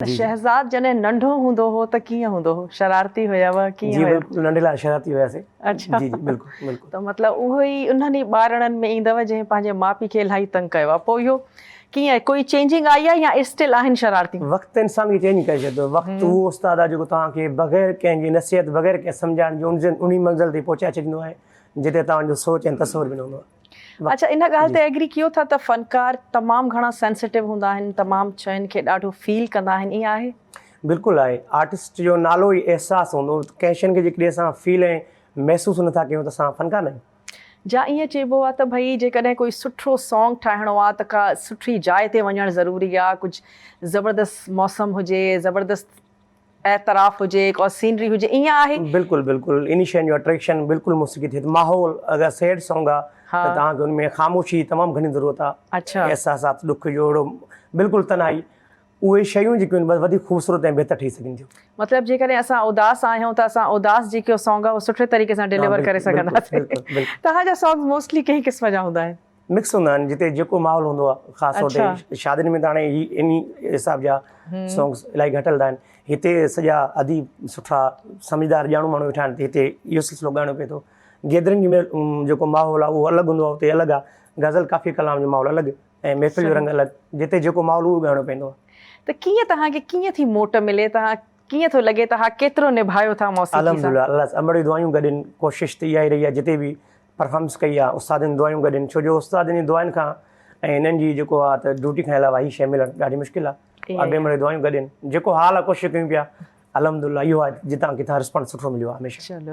ته شهزاد جڏهن ننڍو هوندو هو ته ڪيئن هوندو هو شرارتي هيوء ڪيئن هيو. جي ننڍي لاء شرارتي هياسي اڇا جي جي بلڪل بلڪل. ته مطلب اهو ئي انهن ئي ٻارڙن ۾ ايندو جنهن پنهنجي ماء پي کي الاهي تنگ ڪيو آهي پوء اهو ڪيئن ڪوئي چينجنگ آئي آهي يا اسٽل آهن شرارتيون. وقت انسان کي چينج ڪري ڇڏيندو وقت اهو استاد آهي جيڪو توهان کي بغير ڪنهن جي نصيحت بغير ڪنهن سمجهائڻ جي انهي منزل تي پهچائي ڇڏيندو آهي جتي توهان جو سوچ ۽ تصور به نه هوندو آهي. اچا ان ڳالهه تي ايگري ڪيو ٿا ته فنڪار تمام گهڻا سينسيٽو هوندا آهن تمام شين کي ڏاڍو فيل ڪندا آهن ائين آهي؟ بلڪل آهي آرٽسٽ جو نالو ئي احساس هوندو ڪنهن شين کي جيڪڏهن اسان فيل ۽ محسوس نه ٿا ڪيون ته اسان فنڪار نه آهيون. جا ائين چئبو آهي ته ڀئي جيڪڏهن ڪوئي سٺو سانگ ٺاهڻو آهي ته ڪا سٺي جاء تي وڃڻ ضروري آهي ڪجهه زبردست موسم هجي زبردست اعتراف هجي ڪا سينري هجي ايئن آهي. بلڪل بلڪل اني شين جو اٽريڪشن بلڪل موسيقي ٿئي ٿي ماحول اگر سيڊ سونگ آ ته توهان کي ان ۾ خاموشي جي تمام گهڻي ضرورت آ احساسات ڏک جو اهڙو بلڪل تنهائي اهي شيون جيڪي ان بس وڌيڪ خوبصورت ۽ بهتر ٺهي سگهن ٿيون. مطلب جيڪڏهن اسان اداس آهيون ته اسان اداس جيڪو سونگ آ اهو سٺي طريقي سان ڊليور ڪري سگهنداسين توهان جا سونگز موسٽلي ڪنهن قسم جا هوندا آهن؟ مڪس هوندا آهن جتي جيڪو ماحول هوندو آهي خاص طور تي شادين ۾ ته هاڻي هي انهي حساب جا سونگس الاهي گهٽ هلندا آهن هتي سڄا اديب سٺا سمجهدار ڄاڻو ماڻهو ويٺا آهن هتي اهو سلسلو ڳائڻو پئي ٿو گيدرنگ ۾ جيڪو ماحول آهي اهو الڳ هوندو آهي اتي الڳ آهي غزل ڪافي ڪلام جو ماحول الڳ ۽ محفل جو رنگ الڳ جتي جيڪو ماحول اهو ڳائڻو پوندو آهي ته ڪيئن توهان کي ڪيئن ٿي موٽ ملي توهان ڪيئن ٿو لڳي توهان ڪيترو نڀايو ٿا موسيقي سان الحمدلله الله سان امڙيون دعايون گڏ آهن ڪوشش ته اها ئي رهي آهي جتي به پرفامنس ڪئي آ استادن دعايون گڏ ان ڇو جو استادن جي دعاين کان ۽ انهن جي جيڪو آ ته ڊيوٽي کان علاوه هي شي ملڻ ڏاڍي مشڪل آ اڳي مڙي دعايون گڏ ان جيڪو حال آ ڪوشش ڪيون پيا الحمدلله اهو آ جتان ڪٿان رسپانس سٺو مليو آ هميشه.